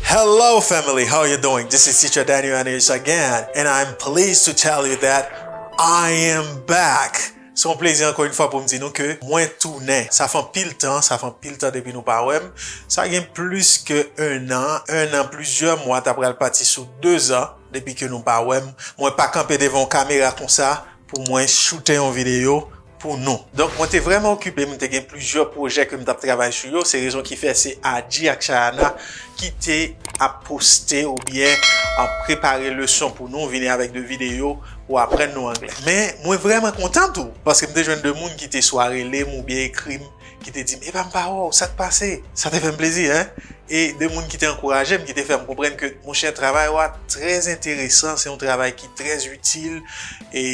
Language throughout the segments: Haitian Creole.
Hello family, how you doing? This is teacher Daniel Aneus again and I'm pleased to tell you that I am back! Se yon plezi anko yon fwa pou m di nou ke mwen tounen. Sa fè anpil tan, sa fè anpil tan depi nou pa wè m. Sa gen plis ke 1 an, 1 an plizyè mwa ta pral pati sou 2 zan depi ke nou pa wè m. Mwen pa kanpe devan yon kamera konsa pou mwen choute yon video. pou nou. Donk mwen te vrèman okipe, m te gen plizyè pwojè ke m t ap travay sou yo, se rezon ki fè se Adji ak Chayana ki te ap poste oubyen prepare leson pou nou, vini avèk 2 videyo pou aprann nou anglè. Men mwen vrèman kontan tou, paske m te jwenn 2 moun ki te swa rele m oubyen ekri m, ki te di m epa m pa wè w, sa k pase? Sa te fè m plezi hein! E 2 moun ki te ankouraje m, ki te fè m konprann ke monchè travay ou a trèzenteresan, se yon travay ki trèzitil e.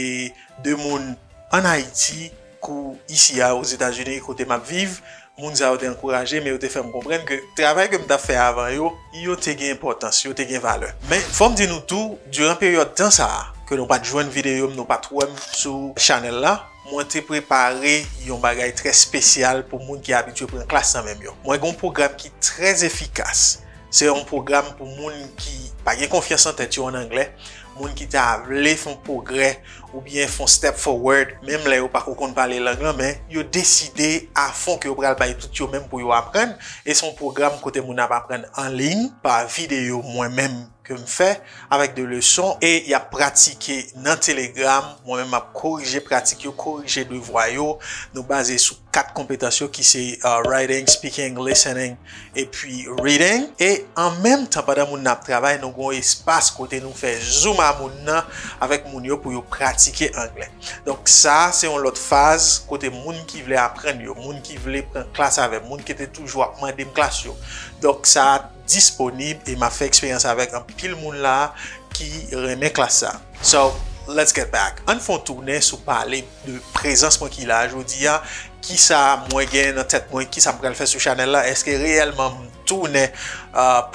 2 moun an Ayiti kou isi a Ozetazini kote m ap viv. Moun sa yo te ankouraje m e yo te fè m konprann ke travay ke m t ap fè avan yo, yo te gen enpòtans, yo te gen valè. Men, fò m di nou tou, diran peryòd tan sa a, ke nou pa t jwenn videyo m, nou pa t wè m sou chanèl la, mwen te prepare yon bagay trè espesyal pou moun ki abitye pran klas nan men m yo. Mwen gen yon pwogram ki trè efikas. Se yon pwogram pou moun ki pa gen konfyans nan tèt yo, an anglè, moun ki ta vle fon pwogrè ou byen fon step forward menm lè yo pa ko konn pale lang lan men yo deside a fon ke yo pral bay tout yo menm pou yo aprann e son pwogram kote moun ap aprann an liy pa videyo mwen menm ke m fè avèk de leson e y ap pratike nan telegram mwen menm m ap korije pratik yo korije devwa yo nou baze sou 4 konpetans yo ki se writing, speaking, listening. Epi reading. E an menm tan pandan moun nan ap travay nou gen yon espas kote nou fè zoom a moun nan avèk moun yo pou yo pratike anglè. Donk sa se yon lòt faz kote moun ki vle aprann yo, moun ki vle pran klas avè m, moun ki te toujou ap mande m klas yo. Donk sa disponib e m ap fè eksperyans avèk anpil moun la ki renmen klas sa. So let's get back. Ann fè yon tounen sou pale. de prezans mwen ki la a jodi a, kisa mwen gen nan tèt mwen, kisa m pral fè sou chanèl la, èske reyèlman m tounen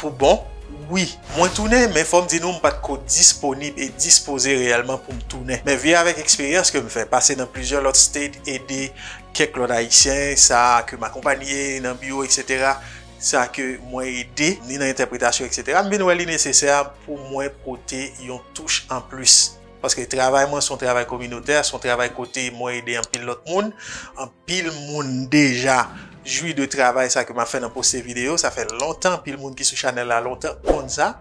pou bon? Wi, mwen tounen, men fò m di nou m pa t ko disponib e dispoze reyèlman pou m tounen. Men vi avèk eksperyans ke m fè, pase nan plizyè lòt state, ede kèk lòt Ayisyen, sa ke m akonpanye nan biwo eksetera, sa ke mwen ede ni nan entèpretasyon eksetera, m vin wè li nesesè pou mwen pote yon touch anplis. Paske travay mwen se yon travay kominotè, se yon travay kote mwen ede anpil lòt moun. Anpil moun deja jwi de travay sa ke m ap fè nan poste videyo. Sa fè lontan, anpil moun ki sou chanèl la lontan konn sa.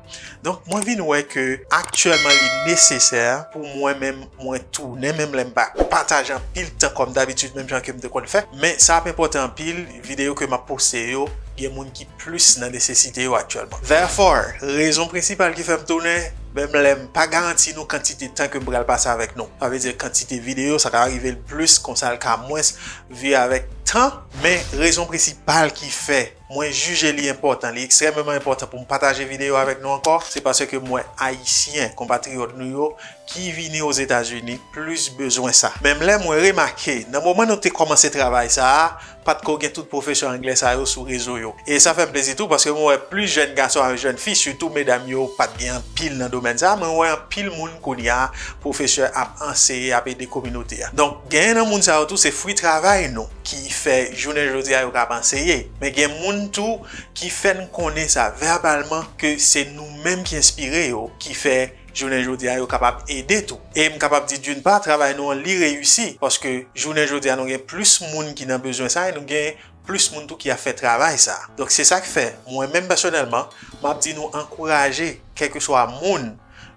Donk mwen vin wè ke aktyèlman li nesesè pou mwen menm mwen tounen menm lè m pa pataje anpil tan kòm dabitid menm jan ke m te konn fè. Men sa ap enpòtan anpil, videyo ke m ap poste yo gen moun ki plis nan nesesite yo aktyèlman. Therefore, rezon prensipal ki fè m tounen, menm lè m pa garanti nou kantite tan ke m pral pase avèk nou, sa vle di kantite videyo, sa ka rive l plis kon sa l ka mwens vi avèk tan, men rezon prensipal ki fè mwen jije li enpòtan, li ekstrèmeman enpòtan pou m pataje videyo avèk nou ankò, se paske m wè Ayisyen, konpatriyòt nou yo, ki vini Ozetazini, plis bezwen sa. Menm lè mwen remake, nan moman nou te kòmanse travay sa a, Pat ko gen tout pwofesè anglè sa yo sou rezo yo. E sa fèm plezi tou paske mwen wè plis jèn gason avèk jèn fi sitou medam yo pat gen anpil nan domèn sa men wè anpil moun kounya pwofesè ap anseye ap ede kominote a. Donk genyen nan moun sa yo tou se fwi travay nou ki fè jounen jodi a yo kab anseye men gen moun tou ki fèn konnen sa vèbalman ke se nou menm ki enspire yo ki fè jounen jodi a yo kapab ede tou. E m kapab di d'une part travay nou an li reyisi paske jounen jodi a nou gen plis moun ki nan bezwen sa e nou gen plis moun tou ki ap fè travay sa. Donk se sa k fè mwen menm pèsonèlman m ap di nou ankouraje kèlkeswa moun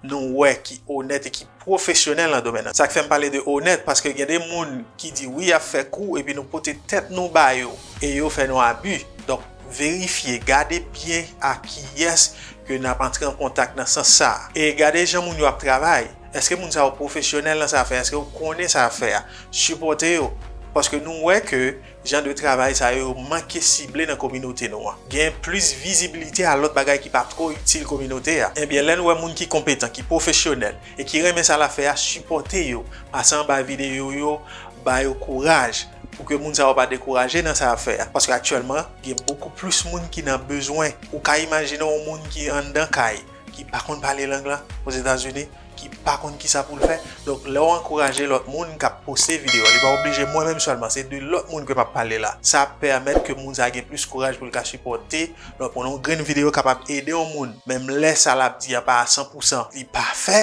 nou wè ki onèt e ki pwofesyonèl nan domèn nan. Sa k fè m pale de onèt paske gen de moun ki di wi y ap fè kou epi nou pote tèt nou ba yo e yo fè nou abi. Donk. Verifye, gade byen a kiyès ke nap antre an kontak nan sans sa a. E gade jan moun yo ap travay. Eske moun sa yo pwofesyonèl nan sa yap fè a? Eske yo konnen sa yap fè a? Sipòte yo. Paske nou wè ke jan de travay sa yo yo manke sible nan kominote nou an. Gen plis vizibilite a lòt bagay ki pa two itil kominote a. Ebyen lè nou wè moun ki konpetan, ki pwofesyonèl, e ki renmen sa lap fè a sipòte yo pase anba videyo yo ba yo kouraj pou ke moun sa yo pa dekouraje nan sa yap fè a paske aktyèlman gen bokou plis moun ki nan bezwen ou ka imajine yon moun ki anndan kay ki pa konn pale lang lan ozetazini ki pa konn kisa poul fè donk lèw ankouraje lòt moun kap poste videyo li pa oblije mwen menm sèlman se de lòt moun ke map pale la sa ap pèmèt ke moun sa gen plis kouraj poul ka sipòte Donk pou yon grenn videyo kapab ede yon moun, menm lè sa l ap di a pa a san pou san, li pafè,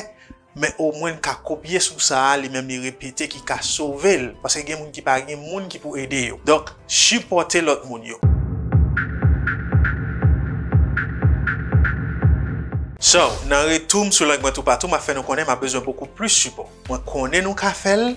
men omwen n ka kopye sou sa li menm li repete ki ka sove l, paske gen moun ki pa gen moun ki pou ede yo. Donk, sipòte lòt moun yo. So, nan retou m sou Lang mwen toupatou, m ap fè nou konnen m ap bezwen bokou plis sipò. Mwen konnen nou ka fè l,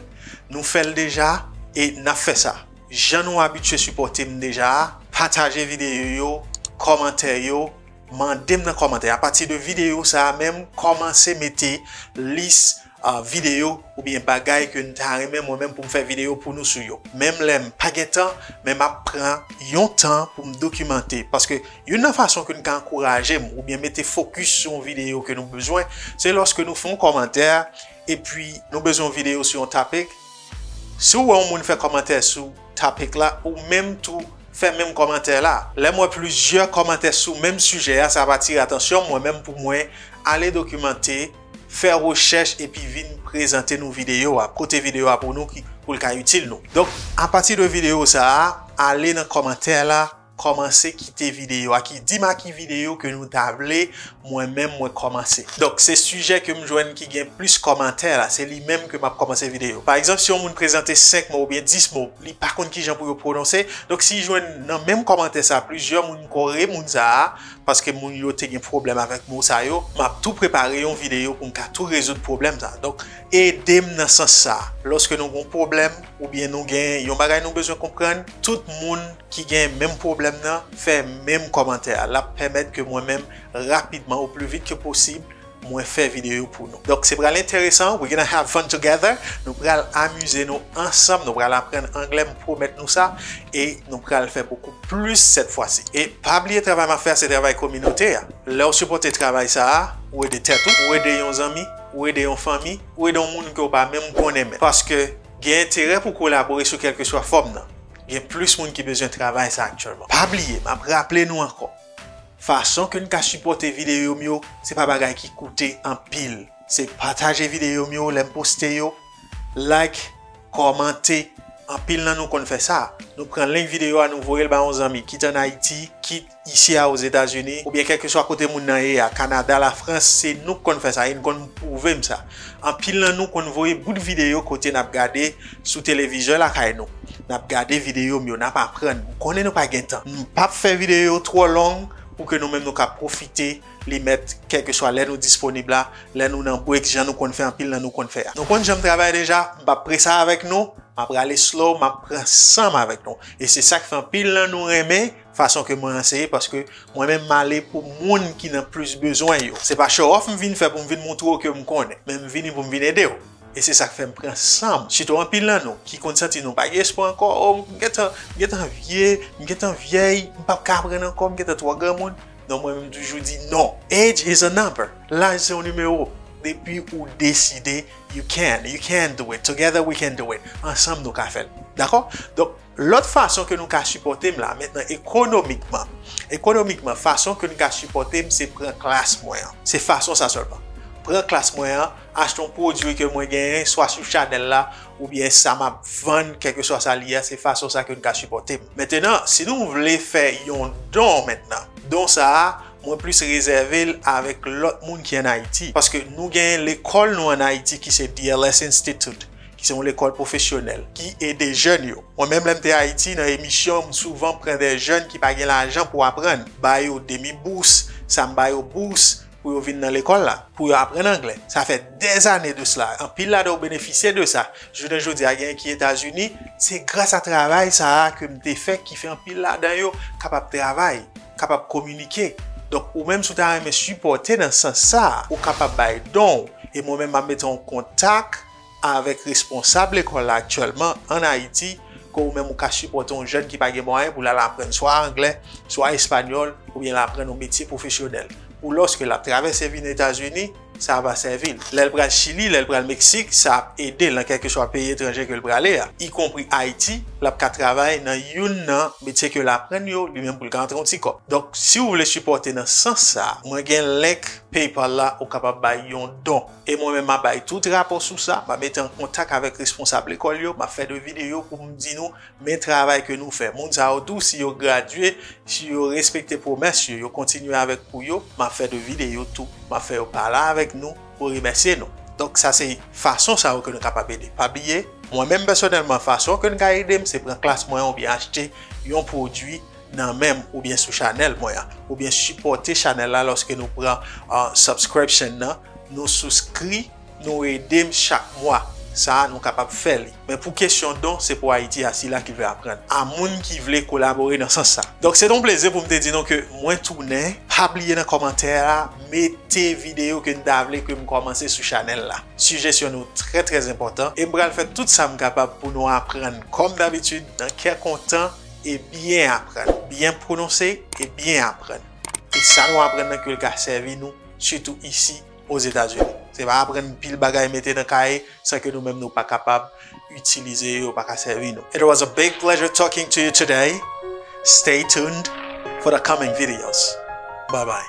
nou fè l deja, e n ap fè sa. Jan nou abitye sipòte m deja a, pataje videyo yo, kòmante yo, mande m nan kòmantè apati de videyo sa a menm kòmanse mete lis videyo oubyen bagay ke n ta renmen mwen menm pou m fè videyo pou nou sou yo. Menm lè m pa gen tan men m ap pran yon tan pou m dokimante paske youn nan fason ke n ka ankouraje m oubyen mete fokis sou yon videyo ke nou bezwen se lòske nou fè yon kòmantè epi nou bezwen yon videyo sou yon topic Si w wè yon moun fè kòmantè sou topic la ou menm tou fè menm kòmantè la. Lè m wè plizyè kòmantè sou menm sijè a sa ap atire atansyon mwen menm pou mwen ale dokimante, fè rechèch epi vin prezante nou videyo a, pote videyo a pou nou pou l ka itil nou. Donk apati de videyo sa a ale nan kòmantè la Kòmanse kite videyo a ki dim a ki videyo ke nou ta vle mwen menm mwen kòmanse. Donk se sijè ke m jwenn ki gen plis kòmantè la, se li menm ke m ap kòmanse videyo. Pa egzanp si yon moun prezante 5 mo oubyen 10 mo, li pa konn kijan pou yo pwononse, donk si jwenn nan menm kòmantè sa plizyè moun m kore moun sa a, paske moun yo te gen pwoblèm avèk mo sa yo, m ap tou prepare yon videyo pou m ka tou rezoud pwoblèm sa. Donk ede m nan sans sa. Lòske nou gen yon pwoblèm oubyen nou gen yon bagay nou bezwen konprann, tout moun. ki gen menm pwoblèm nan fè menm kòmantè a lap pèmèt ke mwen menm rapidman ou pli vit ke posib mwen fè video yo pou nou donk se pral enteresan we gonna have fun together nou pral amize nou ansanm nou pral aprann anglè m pwomèt nou sa e nou pral fè bokou plis sèt fwa si e pa bliye travay map fè a se travay kominote a lèw sipòte travay sa a ou ede tèt ou ou ede yon zanmi ou ede yon fanmi ou ede yon moun ke ou pa menm konnen men paske gen enterè pou kolabore sou kèlkeswa fòm nan. Gen plis moun ki bezwen travay sa aktyèlman. Pa bliye, m ap raple nou ankò, fason ke n ka sipòte videyo m yo, se pa bagay ki koute anpil. Se pataje videyo m yo lè m poste yo, like, kòmante, anpil nan nou konn fè sa. Nou pran link videyo a nou voye l ba yon zanmi, kit an Ayiti, kit. Isi a Ozetazini, oubyen kèlkeswa kote moun nan ye a, Kanada, Lafrans, se nou k konn fè sa e n konn pwouve m sa. Anpil nan nou konn voye bout videyo kote n ap gade sou televizyon lakay nou. N ap gade videyo m yo, n ap aprann. M konnen nou pa gen tan. M p ap fè videyo yo twò long pou ke nou menm nou ka pwofite li mèt kèlkeswa lè nou disponib la, lè nou nan break jan nou konn fè anpil nan nou konn fè a. Nou konn jan m travay deja, m p ap presa avèk nou, m ap rale slow, m ap pran san m avèk nou. E se sa k fè anpil nan nou renmen Fason ke mwen anseye paske mwen menm male pou moun ki nan plis bezwen yo. Se pa show off m vin fè pou m vin montre w ke m konnen, men m vini pou m vin ede w. E se sa k fè m pran san m, sitou anpil nan nou ki konn santi nou pa gen espwa ankò, o m gentan, m gentan vye, m gentan vyèy, m pap ka aprann ankò, m gentan twò granmoun. Non mwen menm m toujou di non. Age is a number, laj se yon nimewo. Depi ou deside you can, you can do it, together we can do it, ansanm nou ka fè l. Dakò? Donk. Lòt fason ke nou ka sipòte m la, mentnan ekonomikman, ekonomikman fason ke n ka sipòte m se pran klas mwen an. Se fason sa sèlman. Pran klas mwen an, achte yon pwodui ke mwen genyen swa sou chanèl la oubyen sa m ap vann kèlkeswa sa li ye a, se fason sa ke n ka sipòte m. Mentnan, si nou vle fè yon don mentnan, don sa a mwen plis rezève l avèk lòt moun ki an Ayiti, paske nou genyen lekòl nou an Ayiti ki se DLS Institute, ki se yon lekòl pwofesyonèl ki ede jèn yo. Mwen menm lè m te Ayiti nan emisyon m souvan pran dè jèn ki pa gen lajan pou aprann, ba yo demi bous, sa m ba yo bous pou yo vin nan lekòl la, pou yo aprann anglè. Sa fè dè zane de sla, anpil ladan yo benefisye de sa. Jounen jodi a genyen ki Etazini, se gras a travay sa a ke m te fè ki fè anpil ladan yo kapab travay, kapab kominike. Donk ou menm si w ta renmen sipòte nan sans sa a, ou kapab bay don w e mwen menm m ap mete w an kontak. avèk responsab lekòl la aktyèlman ann Ayiti ke ou menm ou ka sipòte yon jèn ki pa gen mwayen pou l al aprann swa anglè, swa espanyòl oubyen l aprann yon metye pwofesyonèl pou lòske l ap travèse vin Etazini, sa va sèvi l lè l pral Chili, lè l pral Meksik, sa ap ede l nan kèlkeswa peyi etranje ke l prale a, ikonpri Ayiti, l ap ka travay nan youn nan metye ke l aprann yo li menm pou l ka antre yon ti kòb. Donk, si ou vle sipòte nan sans sa, mwen gen link PayPal la ou kapab bay yon don. E mwen menm m ap bay tout rapò sou sa, m ap mete an kontak avèk responsab lekòl yo, m ap fè de videyo pou m di nou men travay ke nou fè. Moun sa yo tou si yo gradye, si yo respekte pwomès yo, yo kontinye avèk kou yo, m ap fè de videyo tou, m ap fè yo pale avèk nou pou remèsye nou. Donk sa se fason sa yo ke nou kapab ede. Pa bliye, mwen menm pèsonèlman fason ke n ka ede m se pran klas mwen oubyen achte yon pwodui nan menm oubyen sou chanèl mwen an oubyen sipòte chanèl la lòske nou pran subscription nan nou souskri nou edem chak mwa sa nou kapab fè li men pou kesyon don se pou ayiti a sila ki vle aprann a moun ki vle kolabore nan sans sa donk se ton plezi poum te di nou ke mwen tounen pa bliye nan kòmantè a mete videyo ke nou ta vle kem kòmanse sou chanèl la sijesyon nou trè trè enpòtan em pral fè tout sam kapab pou nou aprann kòm dabitid nan kè kontan. e byen aprann, byen pwononse e byen aprann. E sa nou aprann nan kyoul ka sèvi nou sitou isi Ozetazini. Se pa aprann pil bagay mete nan kaye san ke nou menm nou pa kapab itilize yo, yo pa ka sèvi nou. It was a big pleasure talking to you today, stay tuned for the coming videos. Bye bye.